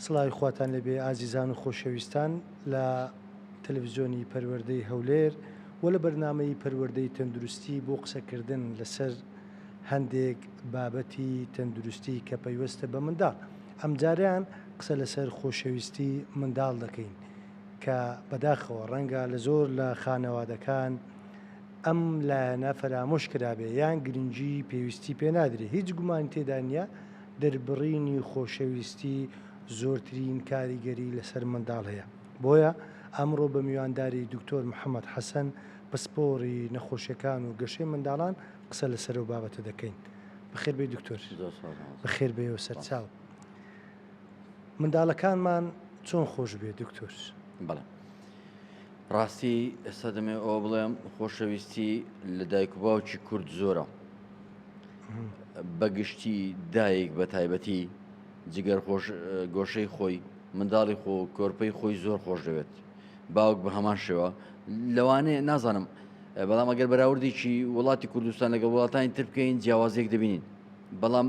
سڵاوی خواتان لەبێ ئازیزان و خۆشەویستان لە تەلەڤزیۆنی پەروەردەی هەولێر و لە بەرنمەی پەروەردەی تەندروستی بۆ قسەکردن لەسەر هەندێک بابەتی تەندروستی کە پەیوەستە بە منداڵ ئەمجاریان قسە لەسەر خۆشەویستی منداڵ دەکەین کە بەداخەوە ڕەنگە لە زۆر لە خانەوادەکان ئەم لایەنە فەرامۆش کرابێ یان گرنگی پێویستی پێ نادرێ هیچ گومانی تێدا نییە دەربڕینی خۆشەویستی زۆرترین کاریگەری لەسەر منداڵ هەیە بۆیە ئەمڕۆ بە میوانداری دکتۆر محەممەد حەسەن پسپۆڕی نەخۆشیەکان و گەشەی منداڵان قسە لەسەر و بابەتە دەکەین بەخێربێ دکتۆر بەخێربێ و سەرچاو منداڵەکانمان چۆن خۆش بێ دکتۆر بەڵێ ڕاستی ئێستا دەمێ ئەوە بڵێم خۆشەویستی لە دایک و باوکی کورد زۆرە بەگشتی دایک بە تایبەتی جگەر گۆشەی خۆی منداڵی خۆ کۆرپەی خۆی زۆر خۆش دەوێت باوک بە هەمان شێوە لەوانەیە نازانم بەڵام ئەگەر بەراوردێکی وڵاتی کوردستان لەگەڵ وڵاتانی تر بکەین جیاوازێک دەبینین بەڵام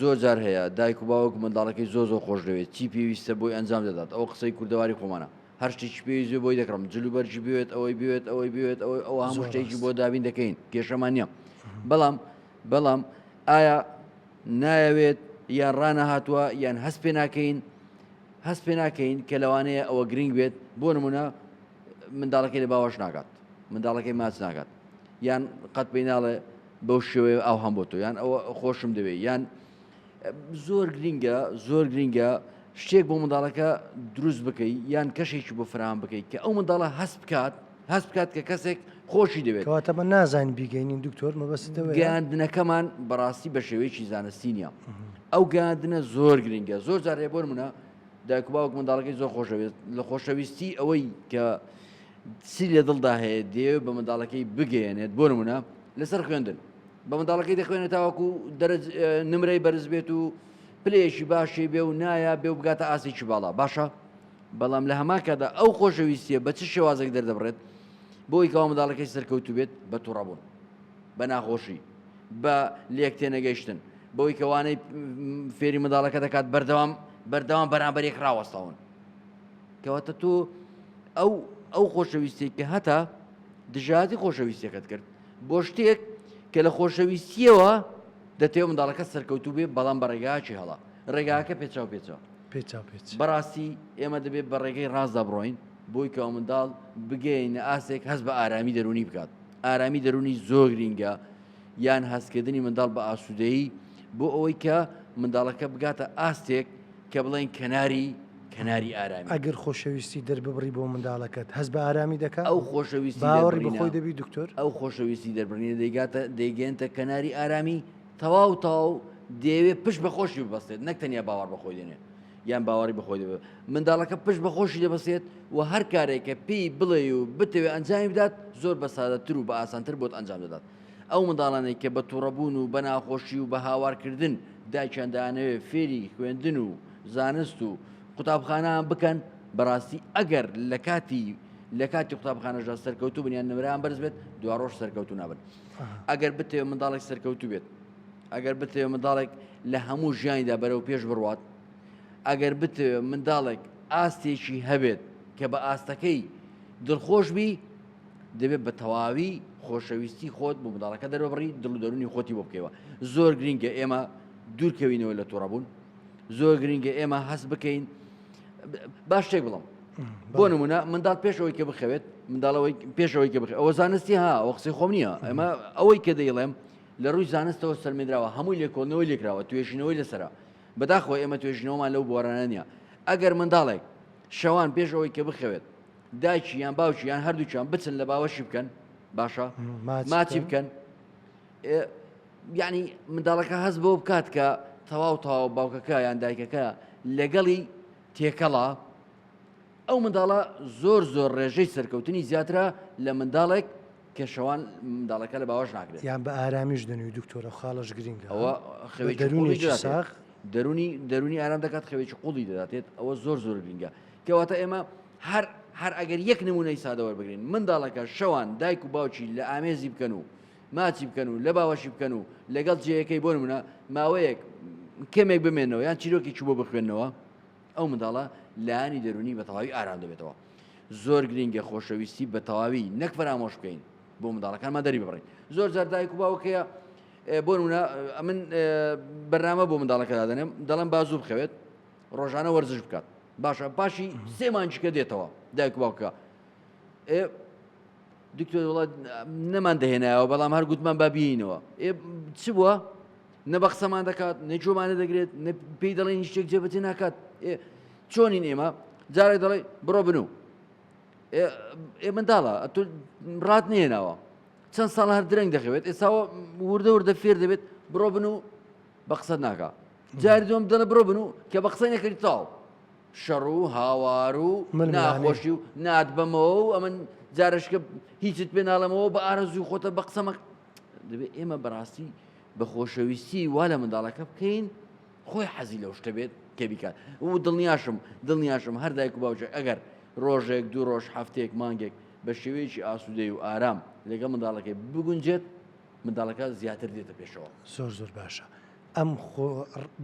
زۆر جار هەیە دایک و باوک منداڵەکەی زۆر زۆر خۆش دەوێت چی پێویستە بۆی ئەنجام دەدات ئەو قسەی کوردەواری خۆمانە هەر شتێکی پێویست بۆی دەکڕم جل و بەرجی بوێت ئەوەی بوێت ئەوەی بوێت ئەوەی ئەو هەموو شتێکی بۆ دابین دەکەین کێشەمان نییە بەڵام بەڵام ئایا نایەوێت یان ڕانە هاتووە یان هەست پێ ناکەین هەست پێ ناکەین کە لەوانەیە ئەوە گرنگ بێت بۆ نمونە منداڵەکەی لە باوەش ناگات منداڵەکەی ماچ ناکات یان قەت پێی ناڵێ بەو شێوەیە ئاو هەم بۆ تۆ یان ئەوە خۆشم دەوێت یان زۆر گرینگە زۆر گرینگە شتێک بۆ منداڵەکە دروست بکەیت یان کەشێکی بۆ فرام بکەیت کە ئەو منداڵە هەست بکات هەست بکات کە کەسێک خۆشی دەوێت کەواتەمە نازان بیگەینین دکتۆر مەبەستەوە گەاندنەکەمان بەڕاستی بە شێوەیەکی زانستی نیە ئەو گاندنە زۆر گرنگە زۆر جارێ بۆر منە دایکباوک منداڵەکەی زۆر خۆشەوێت لە خۆشەویستی ئەوەی کە چی لە دڵدا هەیە دەیەوێت بە منداڵەکەی بگەیەنێت بۆ نمونە لەسەر خوێندن بە منداڵەکەی دەخوێنێت تاوەکو دەرج نمرەی بەرز بێت و پلێشی باشی بێ و نایە بێ و بگاتە ئاسێکی باڵا باشە بەڵام لە هەماکەدا ئەو خۆشەویستیە بە چ شێوازێک دەردەبڕێت بۆی کەوا منداڵەکەی سەرکەوتو بێت بە توڕەبوون بە ناخۆشی بە لێک تێنەگەیشتن بەوەی کەوانەی فێری منداڵەکە دەکات بەردەوام بەردەوام بەرامبەرێک ڕاوەستاون کەواتە تۆ ئەو ئەو خۆشەویستی کە هەتا دژاتی خۆشەویستەکەت کرد بۆ شتێک کە لە خۆشەویستیەوە دەتێو منداڵەکە سەرکەوتو بێ بەڵام بە ڕێگاچی هەڵا ڕێگاکە پێچاو پێچەوە پێچا پێچ بەڕاستی ئێمە دەبێت بە ڕێگەی ڕاستدا بڕۆین بۆی کە منداڵ بگەینە ئاسێک هەست بە ئارامی دەرونی بکات ئارامی دەرونی زۆر گرینگە یان هەستکردنی منداڵ بە ئاسوودەیی بۆ ئەوەی کە منداڵەکە بگاتە ئاستێک کە بڵێن کەناری کەناری ئارامی. ئەگەر خۆشەویستی دەرببڕی بۆ منداڵەکەت هەست بە ئارامی دەکات ئەو خۆشەویستی باوەڕی بەخۆی دەبی دکتۆر ئەو خۆشەویستی دەربڕینە دەیگاتە دەیگەێنتە کەناری ئارامی تەواو تاو دەیەوێت پشت بەخۆشی ببەستێت نەک تەنیا باوەڕ بەخۆی دێنێت یان باوەڕی بەخۆی دەبێت منداڵەکە پشت بەخۆشی دەبەسێت و هەر کارێکە پێی بڵێ و بتەوێت ئەنجامی بدات زۆر بە سادەتر و بە ئاسانتر بۆت ئەنجام دەدات ئەو منداڵانەی کە بە توڕەبوون و بە ناخۆشی و بە هاوارکردن دایکیان دەیانەوێت فێری خوێندن و زانست و قوتابخانەان بکەن، بەڕاستی ئەگەر لە کاتی لە کاتی قوتابخانەشدا سەرکەوتوو بن یان نمرەیان بەرز بێت دواڕۆژ سەرکەوتو نابن ئەگەر بتێ منداڵێک سەرکەوتو بێت ئەگەر بتێ منداڵێک لە هەموو ژیانیدا بەرەو پێش بڕوات ئەگەر بتێ منداڵێک ئاستێکی هەبێت کە بە ئاستەکەی دڵخۆش بی دەبێت بە تەواوی خۆشەویستی خۆت بۆ منداڵەکە دەرەبڕی دڵ و دەرونی خۆتی بۆ بکەوە زۆر گرنگە ئێمە دوورکەوینەوە لە تووڕەبوون زۆر گرنگە ئێمە هەست بکەین باش شتێک بڵم بۆ نمونە منداڵ پێشەوەی کە بخەوێت منداڵەوەی پێشەوەی کە بخێت ئەوە زانستی ها ئەو قسەی خۆم نییە ئەمە ئەوەی کە دەیڵێم لە ڕووی زانستەوە سەرمێدراوە هەمووی لێکۆڵنەوەی لێکراوە توێژینەوەی لەسرە بەداخۆ ئێمە توێژینەوەمان لەو بۆرانە نیە ئەگەر منداڵێک شەوان پێشەوەی کە بخەوێت دایکی یان باوکی یان هەردووکیان بچن لە باوەشی بکەن باشە ماچی بکەن یعنی منداڵەکە هەز بۆ بکات کە تەواو تەواو باوکەکە یان دایکەکە لەگەڵی تێکەڵە ئەو منداڵە زۆر زۆر ڕێژەی سەرکەوتنی زیاترە لە منداڵێک کە شەوان منداڵەکە لە باوەش ناکرێت یان بە ئارامیش دەنوی دکتۆرە خاڵش گرنگە ئەوە خەوێکی دەرونی دەرونی ئارام دەکات خەوێکی قوڵی دەداتێت ئەوە زۆر زۆر گرنگە کەواتە ئێمە هەر هەر ئەگەر یەک نمونەی سادە وەربگرین منداڵەکە شەوان دایک و باوکی لە ئامێزی بکەن و ماچی بکەن و لە باوەشی بکەن و لەگەڵ جێیەکەی بۆ نمونە ماوەیەک کەمێک بمێنەوە یان چیرۆکی چوو بۆ بخوێندنەوە ئەو منداڵە لایانی دەرونی بە تەواوی ئارام دەبێتەوە زۆر گرنگە خۆشەویستی بە تەواوی نەک فەرامۆش بکەین بۆ منداڵەکانمان دەری بڕین زۆر جار دایک و باوکەیە بۆ نمونە من بەرنامە بۆ منداڵەکە دادەنێم دەڵم بازوو بخەوێت ڕۆژانە وەرزش بکات باشە پاشی سێ مانجکە دێتەوە دایک باوکە ئێ دکتۆر وڵات نەمان دەهێنایەوە بەڵام هەر گوتمان بابیینەوە ئێ چ بووە نە بە قسەمان دەکات نە جۆمانە دەگرێت پێی دەڵێن هیچێک جێبەتی ناکات چۆنین ئێمە جارێک دەڵێ بڕۆ بن و ئێ منداڵە ئە ڕات نێناوە چەند ساڵ هەر درەنگ دەخەوێت ئێساوە وردە وردە فێر دەبێت بڕۆ بن و بە قسەت ناکا جاری دوم دەڵێ بڕۆ بنو کە بە قسەی نەکردی تاو شەڕ و هاوار و ناخۆشی و نات بەمەوە و ئەمن جارشکە هیچت پێ ناڵەمەوە بە ئارەزوی خۆتە بە قسەمە دەبێت ئێمە بەڕاستی بە خۆشەویستی وا لە منداڵەکە بکەین خۆی حەزی لەو شتە بێت کە بیکات و دڵنیاشم دڵنیاشم هەر دایک و باوجێک ئەگەر ڕۆژێک دوو ڕۆژ هەفتێک مانگێک بە شێوەیەکی ئاسوودەی و ئارام لەگە منداڵەکەی بگونجێت منداڵەکە زیاتر دێتە پێشەوە. زۆر زۆر باشە ئەم خۆ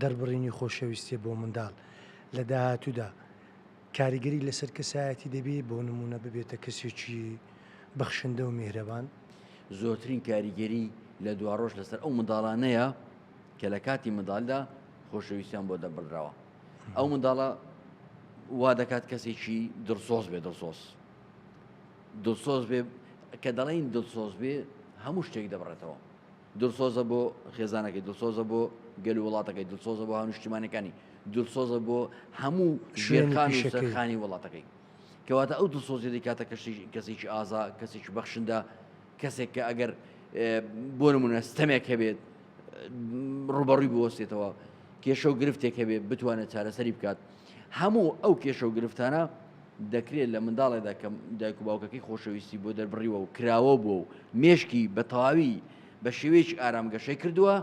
دەربڕینی خۆشەویستیە بۆ منداڵ لە داهاتوودا کاریگەری لەسەر کەسایەتی دەبێت بۆ نمونە ببێتە کەسێکی بەخشندە و میهرەبان زۆرترین کاریگەری لە دواڕۆژ لەسەر ئەو منداڵانەیە کە لە کاتی منداالدا خۆشەویستیان بۆ دەبڕدراوە ئەو منداڵە وا دەکات کەسێکی دڵسۆز بێ دڵسۆز دڵسۆز بێ کە دەڵێین دڵسۆز بێ هەموو شتێک دەبڕێتەوە دڵسۆزە بۆ خێزانەکەی دڵسۆزە بۆ گەل و وڵاتەکەی دڵسۆزە بۆ هەنوشتیمانەکانی دڵسۆزە بۆ هەموو شوێنخان شەکەخانی وڵاتەکەی کەواتە ئەو دڵسۆزی دەکاتە کەشی کەسێکی ئازا کەسێکی بەخشندە کەسێک کە ئەگەر بۆ نمونە ستەمێک هەبێت ڕوبەڕووی بوەستێتەوە کێشە و گرفتێک هەبێت بتوانێت چارەسەری بکات هەموو ئەو کێشە و گرفتانە دەکرێت لە منداڵێدا کە دایک و باوکەکەی خۆشەویستی بۆ دەربڕیوە و کراوە بووە و مێشکی بە تەواوی بە شێوەیەکی ئارام گەشەی کردووە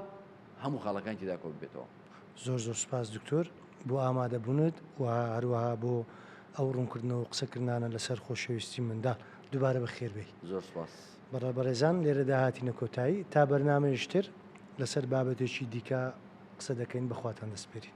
هەموو خاڵەکانی تێدا کۆ ببێتەوە. زۆر زۆر سوپاس دکتۆر بۆ ئامادەبوونت و هەروەها بۆ ئەو ڕوونکردنەوە و قسەکردنانە لەسەر خۆشەویستی منداڵ دووبارە بەخێربێی. زۆر سوپاس. بەڕێ بەڕێزان لێرەدا هاتینە کۆتایی تا بەرنامەیەکی تر لەسەر بابەتێکی دیکە قسە دەکەین بەخواتان دەسپێرین.